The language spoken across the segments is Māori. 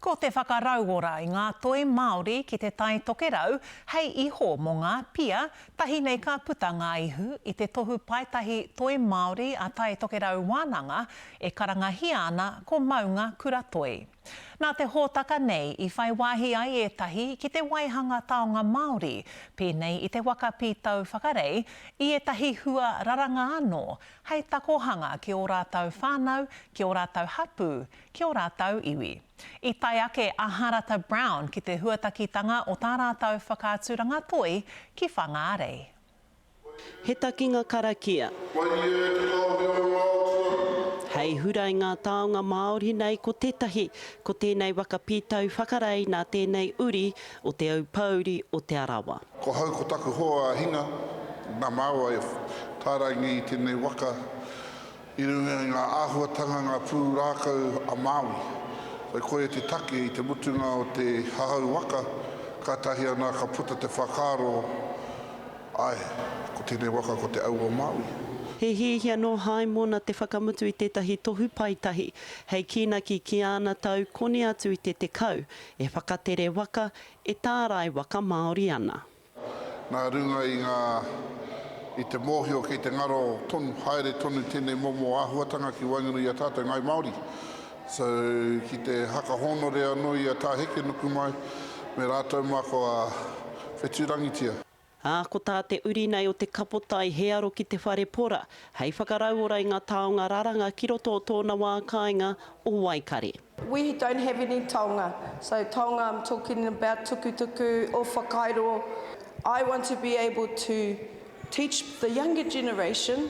Ko te whakarauora i ngā toi Māori ki te Tai Tokerau hei iho mō ngā pia, tahi nei ka puta ngā ihu i te tohu paetahi Toi Māori a Tai Tokerau Wānanga e karangahia ana ko Maunga Kura Toi. Nā te hōtaka nei i whai wāhi ai ētahi ki te waihanga taonga Māori, pēnei i te waka pītau whakarei, i ētahi hua raranga anō, hei takohanga ki ō rātou whānau, ki ō rātou hapū, ki ō rātou iwi. I tae ake a Hārata Brown ki te huatakitanga o tā rātou whakaaturanga toi ki Whangārei. He takinga karakia. Waiea ki ngā mea o ngā tuarua. Hei hura i ngā taonga Māori nei ko tētahi, ko tēnei waka pītau whakarae nā tēnei uri o Te Aupōuri o Te Arawa. Ko hau ko taku hoa a Hinga, nā māua e tāraingia i tēnei waka i runga i ngā āhuatanga, ngā pūrākau a Māui. Whai koia te take i te mutunga o te hahau waka, kātahi anā ka puta te whakaaro, āe, ko tēnei waka ko te au o Māui. He hiahia nō Haimona te whakamutu i tētahi tohu paetahi hei kīnaki ki āna tau koni atu i te tekau, e whakatere waka, E tārai waka Māori ana. Nā runga i ngā, i te mōhio kei te ngaro tonu, haere tonu tēnei momo āhuatanga ki waenganui i a tātou Ngāi Māori. So, ki te haka hōnore anō i a Tā Hekenuku mai, me rātou mā kua whetū rangitia. Ā, ko tā te uri nei o te kapotai he aro ki te whare pora, hei whakarauora i ngā taonga raranga ki roto o tōna wā kāinga o Waikare. We don't have any taonga, so taonga I'm talking about tukutuku or whakairo, I want to be able to teach the younger generation,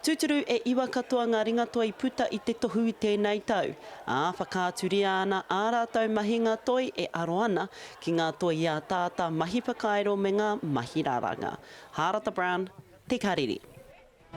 Tūturu e iwa katoa ngā ringatoa i puta i te tohu i tēnei tau, ā, whakaaturia ana ā rātou mahinga toi e aro ana ki ngā toi i ataata, mahi whakairo me ngā mahi raranga. Hārata Brown, Te Karere.